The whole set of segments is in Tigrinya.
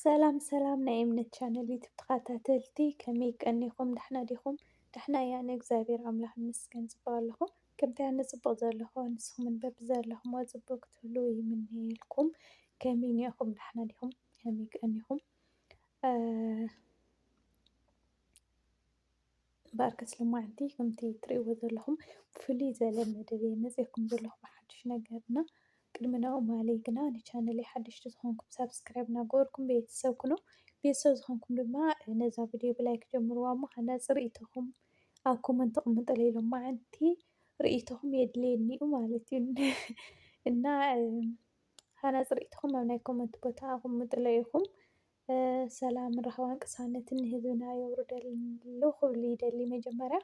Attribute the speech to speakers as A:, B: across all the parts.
A: ሰላም ሰላም ናይ እምነት ቻነል ዩቱብ ተኸታተልቲ ከመይ ቀኒኹም ዳሕና ዲኹም? ዳሕና እያ ኣነ እግዚኣብሔር ኣምላኽ ይመስገን ጽቡቕ ኣለኹ። ከምቲ ኣነ ጽቡቕ ዘለኹ ንስኹምን በብዘለኹሞ ጽቡቕ ክትህልዉ ይምነየልኩም። ከመይ እኒኹም ዳሕና ዲኹም? ከመይ ቀኒኹም? እምበኣር ከስ ሎማዓንቲ ከምቲ ትርእይዎ ዘለኹም ብፍልይ ዘለ መደብ እየ መጺኤኩም ዘለኹ ብሓድሽ ነገር እና ቅድሚ ናኡ ማለይ ግና ንቻነለይ ሓደሽቲ ዝኾንኩም ሳብስክራይብ እናገበርኩም ቤተሰብ ኩኑ ቤተሰብ ዝኾንኩም ድማ ነዛ ቪድዮ ብላይክ ጀምርዋ እሞ ሃናጺ ርእይቶኹም ኣብ ኮመንት ተቕምጡለይ ሎማዓንቲ ርእይቶኹም የድልየኒ እዩ ማለት እዩ እና ሃናጺ ርእይቶኹም ኣብ ናይ ኮመንት ቦታ ኣቕምጡለይ ኢኹም ሰላምን ራህዋን ቅሳነትን ንህዝብና የውርደሉ ክብሉ ይደሊ። መጀመርያ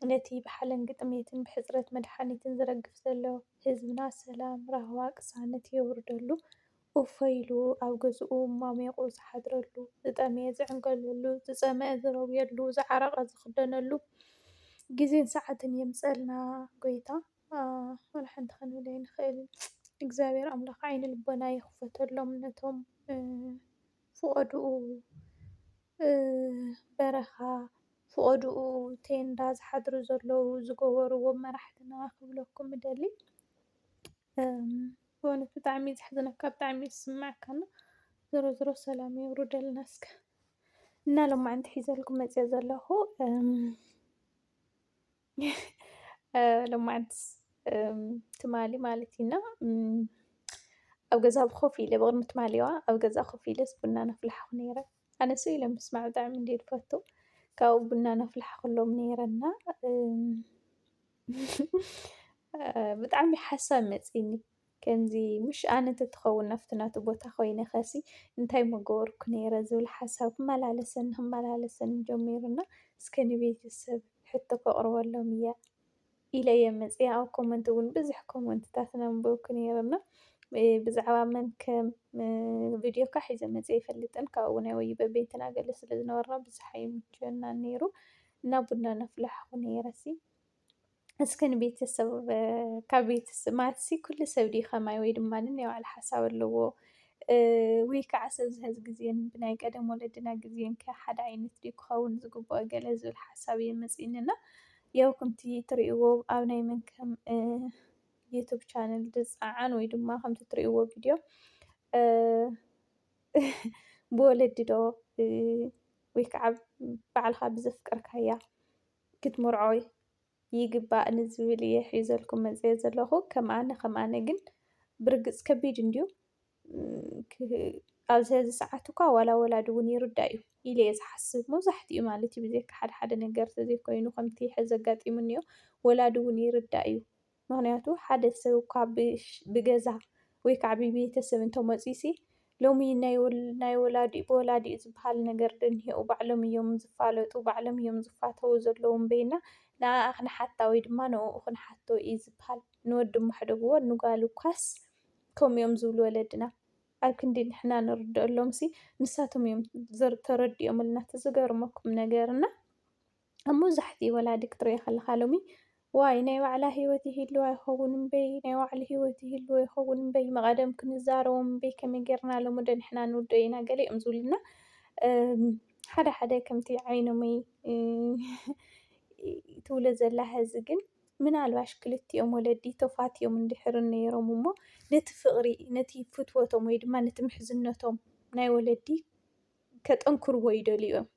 A: ነቲ ብሓለን ግጥምየትን ብሕጽረት መድሓኒትን ዝረግፍ ዘሎ ህዝብና ሰላም ራህዋ ቅሳነት የውርደሉ ኡፈ ኢሉ ኣብ ገዝኡ ሞሚቑ ዝሓድረሉ፣ ዝጠመየ ዝዕንገለሉ፣ ዝጸመኣ ዝረውየሉ፣ ዝዓረቐ ዝኽደነሉ ግዜን ሰዓትን የምጸልና ጎይታ። ኣህ ወላ ሓንቲ ክንብል ኣይንክእልን እግዚኣብሔር ኣምላክ ዓይነ ልቦና ይክፈተሎም ነቶም ፍቆድኡ በረካ ፍቆድኡ ቴንዳ ዝሓድሩ ዘለዉ ዝገበርዎ መራሕትና ክብለኩም እደሊ በእውነት ብጣዕሚ እዩ ዘሕዝነካ ብጣዕሚ እዩ ዝስመዐካ እና ዞሮ ዞሮ ሰላም የውርደልና እስከ እና ሎማዓንቲ ሒዘልኩም መፅየ ዘለኩ። ሎማዓንቲ ትማሊ ማለት እዩ እና ኣብ ገዛ ኮፍ ኢለ ብቕድሚ ትማሊዋ ኣብ ገዛ ኮፍ ኢለስ ቡና ነፍልሓኹ ነይረ ኣነ ስቅ ኢለ ምስማዕ ብጣዕሚ እንድየ ዝፈቱ ካብኡ ቡና ነፍልሓኹሎም ነይረ እና ብጣዕሚ ሓሳብ መፂኒ ከምዚ ምሽ ኣነ እንተትኸውን ናብቲ ናቱ ቦታ ኮይነኸሲ እንታይ ምገበርኩ ነይረ ዝብል ሓሳብ ክመላለሰኒ ክመላለሰኒ ጀሚሩ እና እስከ ንቤተሰብ ሕቶ ከቕርበሎም እያ ኢለ እየ መፅያ ኣብ ኮመንት እውን ብዙሕ ኮመንትታት ነንበብኩ ነይረ እና ብዛዕባ መን ከም ቪድዮ ካ ሒዘ መፅየ ይፈልጥን ካብኡ ናይ ወይ በቤንትና ገለ ስለ ዝነበርና ብዙሕ ኣይምችወና ነይሩ እና ቡና ነፍልሐኹ ነይረሲ እስከ ንቤተሰብ ካብ ቤተሰብ ማለትሲ ኩሉ ሰብ ድዩ ከማይ ወይ ድማ ነናይ ባዕሉ ሓሳብ ኣለዎ? ወይ ከዓ ሰብዚ ሐዚ ግዜ ብናይ ቀደም ወለድና ግዜ ከ ሓደ ዓይነት ድዩ ክኸውን ዝግብኦ ገለ ዝብል ሓሳብ እዩ መፂኡኒ እና ያው ከምቲ ትሪእዎ ኣብ ናይ መንከም ዩቱብ ቻነል ዝፀዓን ወይ ድማ ከምቲ ትሪእዎ ቪድዮ ብወለዲ ዶ ወይ ከዓ ባዕልኻ ብዘፍቀርካያ ክትምርዖ ይግባእ ንዝብል እየ ሒዘልኩም መፂኤ ዘለኹ ከም ኣነ ከም ኣነ ግን ብርግፅ ከቢድ እንድዩ ኣብዚ ሕዚ ሰዓት እኳ ዋላ ወላዲ እውን ይርዳእ እዩ ኢለ እየ ዝሓስብ መብዛሕትኡ ማለት እዩ ብዘካ ሓደ ሓደ ነገር ተዘይኮይኑ ከምቲ ሕዚ ኣጋጢሙኒ እዮ ወላዲ እውን ይርዳእ እዩ ምኽንያቱ ሓደ ሰብ እኳ ብገዛ ወይ ከዓ ብቤተሰብ እንተመፅዩሲ ሎሚ ናይ ወላዲኡ ብወላዲኡ ዝበሃል ነገር ዶ እኒሀኡ? ባዕሎም እዮም ዝፋለጡ፣ ባዕሎም እዮም ዝፋተዉ ዘለዉ እምበይና ንኣኣ ክንሓታ ወይ ድማ ንእኡ ክንሓቶ እዩ ዝበሃል። ንወዲ እሞ ኣሕደግዎ ንጓል እኳስ ከምኡ እዮም ዝብሉ ወለድና። ኣብ ክንዲ ንሕና ንርደኣሎምሲ ንሳቶም እዮም ተረዲኦምልና። እቲ ዝገርመኩም ነገር እና ኣብ መብዛሕትኡ ወላዲ ክትሪኦ ከለኻ ሎሚ ዋይ ናይ ባዕላ ሂወት ይህልዋ ይኸውን እምበይ ናይ ባዕሉ ሂወት ይህልዎ ይኸውን እምበይ መቐደም ክንዛረቦም እምበይ ከመይ ጌርና ሎሚ ዶ ንሕና ንውድኦ ኢና ገሊኦም ዝብሉና ሓደ ሓደ ከምቲ ዓይኖመይ ትብሎ ዘላ ሀዚ ግን ምናልባሽ ክልቲኦም ወለዲ ተፋትዮም እንድሕር ነይሮም እሞ ነቲ ፍቕሪ ነቲ ፍትወቶም ወይ ድማ ነቲ ምሕዝነቶም ናይ ወለዲ ከጠንክርዎ ይደልዩ እዮም።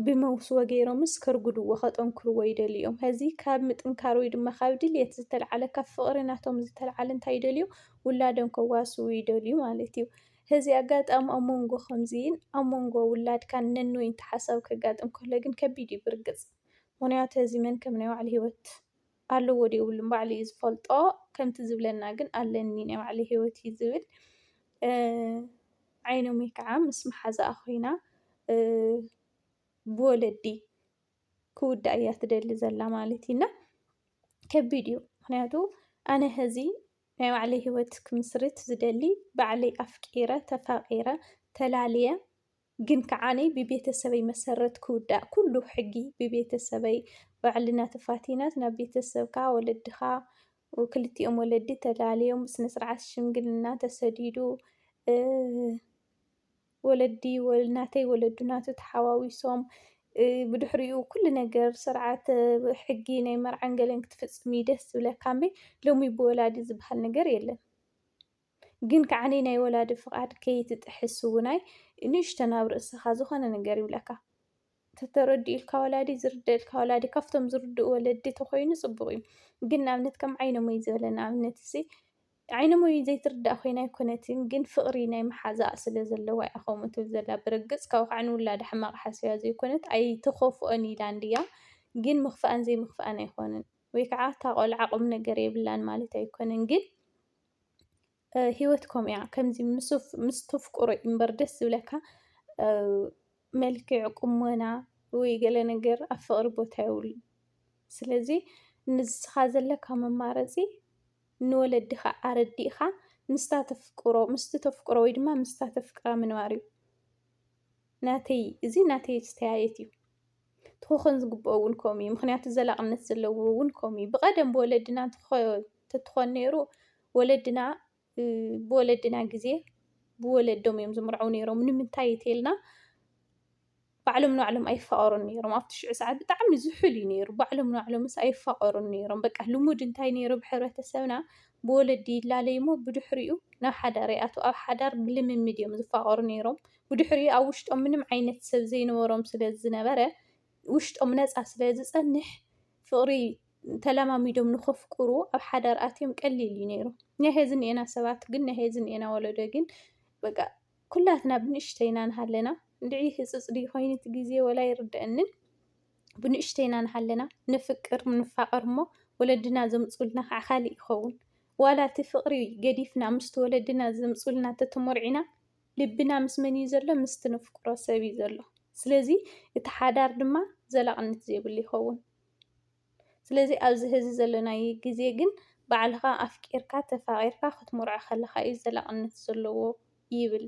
A: ብመውስቦ ገይሮምስ ከርጉድዎ ከጠንክርዎ ይደልዩ እዮም። ሀዚ ካብ ምጥንካር ወይ ድማ ካብ ድልየት ዝተልዓለ ካብ ፍቕሪ ናቶም ዝተልዓለ እንታይ ይደልዩ ውላዶም ከዋስቡ ይደልዩ ማለት እዩ። ሀዚ ኣጋጣሚ ኣብ ሞንጎ ከምዚን ኣብ ሞንጎ ውላድካን ነንወይ እንተ ሓሳብ ከጋጥም ከሎ ግን ከቢድ እዩ ብርግፅ ምኽንያቱ ሀዚ መን ከም ናይ ባዕሉ ህይወት ኣለዎ ድዩ የብሉን ባዕሉ እዩ ዝፈልጦ። ከምቲ ዝብለና ግን ኣለኒ ናይ ባዕለይ ሂወት እዩ ዝብል። ዓይኖመይ ከዓ ምስ መሓዛኣ ኮይና ብወለዲ ክውዳእ እያ ትደሊ ዘላ ማለት እዩ እና ከቢድ እዩ ምክንያቱ ኣነ ሀዚ ናይ ባዕለይ ሂወት ክምስርት ዝደሊ ባዕለይ ኣፍቂረ ተፋቂረ ተላልየ ግን ከዓ ኣነ ብቤተሰበይ መሰረት ክውዳእ ኩሉ ሕጊ ብቤተሰበይ ባዕልና ተፋቲናስ ናብ ቤተሰብካ ወለድኻ ክልቲኦም ወለዲ ተላልዮም ብስነ ስርዓት ሽምግልና ተሰዲዱ ወለዲ ናተይ ወለዱ ናቱ ተሓዋዊሶም ብድሕሪኡ ኩሉ ነገር ስርዓት ሕጊ ናይ መርዓን ገለን ክትፍፅም እዩ ደስ ዝብለካ እምበይ ሎሚ ብወላዲ ዝበሃል ነገር የለን። ግን ከዓኒ ናይ ወላዲ ፍቓድ ከይትጥሕስ እውናይ ንእሽተን ኣብ ርእስኻ ዝኾነ ነገር ይብለካ ተተረዲኡልካ ወላዲ ዝርደልካ ወላዲ ካብቶም ዝርድኡ ወለዲ ተኮይኑ ጽቡቕ እዩ ግን ንኣብነት ከም ዓይነሞይ ዝበለ ንኣብነት እዚ ዓይነሞይ ዘይትርዳእ ኮይና ኣይኮነትን ግን ፍቕሪ ናይ መሓዛኣ ስለ ዘለዋ እያ ከምኡ ትብል ዘላ ብርግጽ ካብኡ ከዓ ንውላዳ ሕማቕ ሓስብያ ዘይኮነት ኣይትኸፍኦን ኢላ እንድያ ግን ምኽፋኣን ዘይምኽፋኣን ኣይኮነን ወይ ከዓ እታ ቆልዓ ቁም ነገር የብላን ማለት ኣይኮነን ግን ሂወት ከምኡ እያ ከምዚ ምስ ተፍቅሮ እዩ እምበር ደስ ዝብለካ መልክዕ ቁመና ወይ ገለ ነገር ኣብ ፍቅሪ ቦታ የብሉን ስለዚ ንስካ ዘለካ መማረፂ ንወለድካ ኣረዲእካ ምስቲ ተፍቅሮ ወይ ድማ ምስታ ተፍቅራ ምንባር እዩ። ናተይ እዚ ናተይ ኣስተያየት እዩ። እቲ ክኾን ዝግብኦ እውን ከምኡ እዩ። ምኽንያቱ ዘላቕነት ዘለዎ እውን ከምኡ እዩ። ብቐደም ብወለድና እንተትኾን ነይሩ ወለድና ብወለድና ግዜ ብወለዶም እዮም ዝምርዐው ነይሮም። ንምንታይ እተልና ባዕሎም ንባዕሎም ኣይፋቐሩን ነይሮም። ኣብቲ ሽዑ ሰዓት ብጣዕሚ ዝሑል እዩ ነይሩ። ባዕሎም ንባዕሎምስ ኣይፋቐሩን ነይሮም። በቃ ልሙድ እንታይ ነይሩ ብሕብረተሰብና ብወለዲ ይላለዩ እሞ ብድሕሪኡ ናብ ሓዳር ይኣትዉ። ኣብ ሓዳር ብልምምድ እዮም ዝፋቐሩ ነይሮም። ብድሕሪኡ ኣብ ውሽጦም ምንም ዓይነት ሰብ ዘይነበሮም ስለ ዝነበረ ውሽጦም ነፃ ስለ ዝፀንሕ ፍቕሪ ተለማሚዶም ንኸፍቅሩ ኣብ ሓዳር ኣትዮም ቀሊል እዩ ነይሩ። ናይ ሄዚ እኒኤና ሰባት ግን ናይ ሄዚ እኒኤና ወለዶ ግን በቃ ኩላትና ብንእሽተይና ንሃለና እንድዒ ህፅፅ ድዩ ኮይኑ እቲ ግዜ ወላ ይርደአንን ብንእሽተይና ንሃለና ንፍቅር ንፋቐር እሞ ወለድና ዘምፁልና ከዓ ካልእ ይኸውን ዋላ እቲ ፍቕሪ ገዲፍና ምስቲ ወለድና ዘምፁልና ተተሞርዒና ልብና ምስ መን እዩ ዘሎ? ምስቲ ነፍቅሮ ሰብ እዩ ዘሎ። ስለዚ እቲ ሓዳር ድማ ዘላቕነት ዘይብሉ ይኸውን። ስለዚ ኣብዚ ሀዚ ዘለናዮ ግዜ ግን ባዕልኻ ኣፍቂርካ ተፋቒርካ ክትምርዖ ከለኻ እዩ ዘላቕነት ዘለዎ ይብል።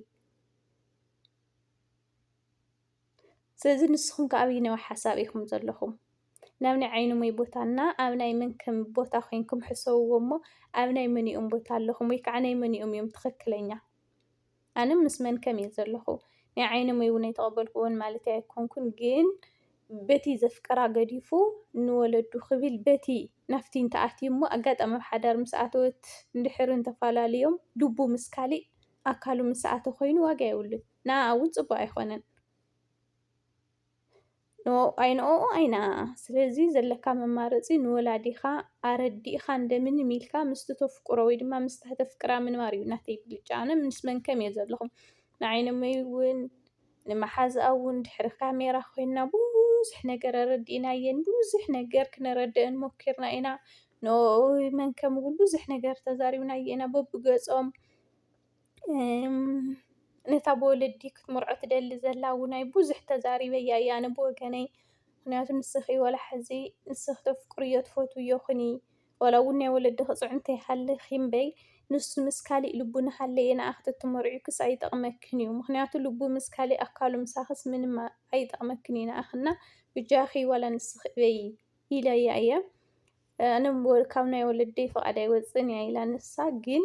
A: ስለዚ ንስኹም ከ ኣብይነዊ ሓሳብ ኢኹም ዘለኹም? ናብ ናይ ዓይንሞይ ቦታ እና ኣብ ናይ ምንክም ቦታ ኮይንኩም ሕሰብዎ እሞ ኣብ ናይ መንኦም ቦታ ኣለኹም ወይ ከዓ ናይ መንኦም እዮም ትኽክለኛ? ኣነ ምስ መንከም እየ ዘለኹ ናይ ዓይንሞይ እውን ኣይተቐበልክዎን ማለት ኣይኮንኩን ግን በቲ ዘፍቀራ ገዲፉ ንወለዱ ክብል በቲ ናፍቲ እንተኣትዩ እሞ ኣጋጣሚ ኣብ ሓዳር ምስ ኣተወት እንድሕር እንተፈላለዮም ልቡ ምስ ካሊእ ኣካሉ ምስ ሰኣተ ኮይኑ ዋጋ የብሉን። ንኣኣ እውን ፅቡቕ ኣይኾነን። ኣይንኣኡ ኣይንኣኣ ስለዚ ዘለካ መማረፂ ንወላዲኻ ኣረዲእኻ እንደምንም ኢልካ ምስቲ ተፍቅሮ ወይ ድማ ምስታ ተፍቅራ ምንባር እዩ ናተይ ብልጫ ኣነ ምስ መን ከም እየ ዘለኹም ንዓይነመይ እውን ንመሓዝኣ እውን ድሕሪ ካሜራ ኮይና ብዙሕ ነገር ኣረዲእናየን ብዙሕ ነገር ክነረድአን ሞኪርና ኢና ንኡ መን ከም እውን ብዙሕ ነገር ተዛሪብናየ ኢና በብገፆም ነታ ብወለዲ ክትምርዖ ትደሊ ዘላ እውናይ ብዙሕ ተዛሪበያ እየ ኣነ ብወገነይ ምክንያቱ ንስኪ ዋላ ሕዚ ንስኪ ተፍቅርዮ ትፈትውዮ ኩኒ ዋላ እውን ናይ ወለድኪ ፅዕንቶ ይሃልኪ እምበይ ንሱ ምስ ካሊእ ልቡ እናሃለየ ንዓኪ ተትምርዕዮክስ ኣይጠቅመክን እዩ ምክንያቱ ልቡ ምስ ካሊእ ኣካሉ ምሳክስ ምንም ኣይጠቅመክን እዩ ንዓኪ እና ብጃኪ ዋላ ንስኪ እበይ ኢለያ እየ። ኣነ ካብ ናይ ወለደይ ፍቓድ ኣይወፅእን እያ ኢላ ንሳ ግን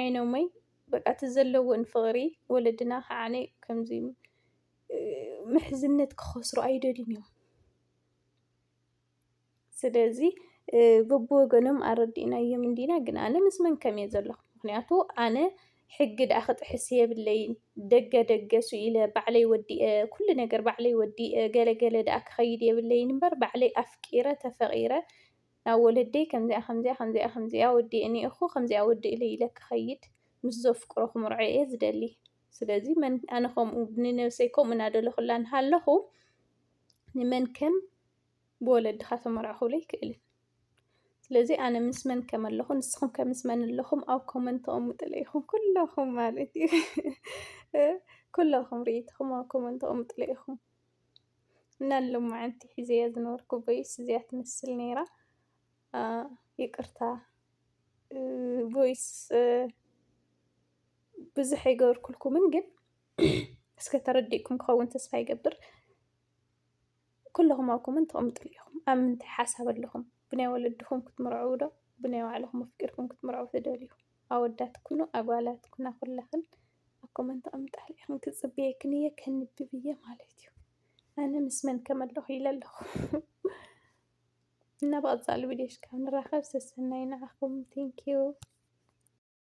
A: ዓይኖመይ በቃ እቲ ዘለዎን ፍቕሪ ወለድና ከዓነ ከምዚ ምሕዝነት ክኸስሩ ኣይደልዩን እዮም ስለዚ በብወገኖም ኣረዲእናዮም እንዲና ግን ኣነ ምስ መን ከም እየ ዘለኹ ምክንያቱ ኣነ ሕጊ ድኣ ክጥሕስ የብለይን ደገ ደገ ሱኢለ ባዕለይ ወዲኤ ኩሉ ነገር ባዕለይ ወዲኤ ገለ ገለ ድኣ ክከይድ የብለይን እምበር ባዕለይ ኣፍቂረ ተፈቂረ ናብ ወለደይ ከምዚኣ ከምዚኣ ከምዚኣ ከምዚኣ ወዲኤ እኒኤኩ ከምዚኣ ወዲ እለይ ኢለ ክከይድ ምስ ዘፍቅሮ ክምርዖ እየ ዝደሊ ስለዚ መን ኣነ ከምኡ ንነብሰይ ከምኡ እናደለኩላ እንሃለኩ ንመን ከም ብወለድኻ ተመርዕኹ ለይክእልን ስለዚ ኣነ ምስ መን ከም ኣለኹ ንስኹም ከ ምስ መን ኣለኹም ኣብ ኮመንት ተቐምጥለይ ኢኹም ኩለኹም ማለት እዩ ኩለኹም ርኢትኹም ኣብ ኮመንት ተቐምጥለይ ኢኹም እና ሎማዓንቲ ሒዘያ ዝነበርኩ ቦይስ እዚያ ትመስል ነይራ ይቅርታ ቦይስ ብዙሕ ኣይገበርኩልኩምን ግን እስከ ተረዲእኩም ክኸውን ተስፋ ይገብር ኩለኹም ኣብ ኮመንት ተቐምጥሉ ኢኹም ኣብ ምንታይ ሓሳብ ኣለኹም ብናይ ወለድኹም ክትምርዕው ዶ ብናይ ባዕልኹም ኣፍቂርኩም ክትምርዕው ትደልዩ ኣወዳት ኩኑ ኣጓላት ኩና ኩለኽን ኣብ ኮመንት ተቐምጣሉ ኢኽን ክጽብየክን እየ ከንብብ እየ ማለት እዩ ኣነ ምስ መን ከመለኹ ኢለ ኣለኹ እና ብቐፃሊ ቪድዮሽ ካብ ንራኸብ ሰሰናይ ንዓኹም ቴንኪዩ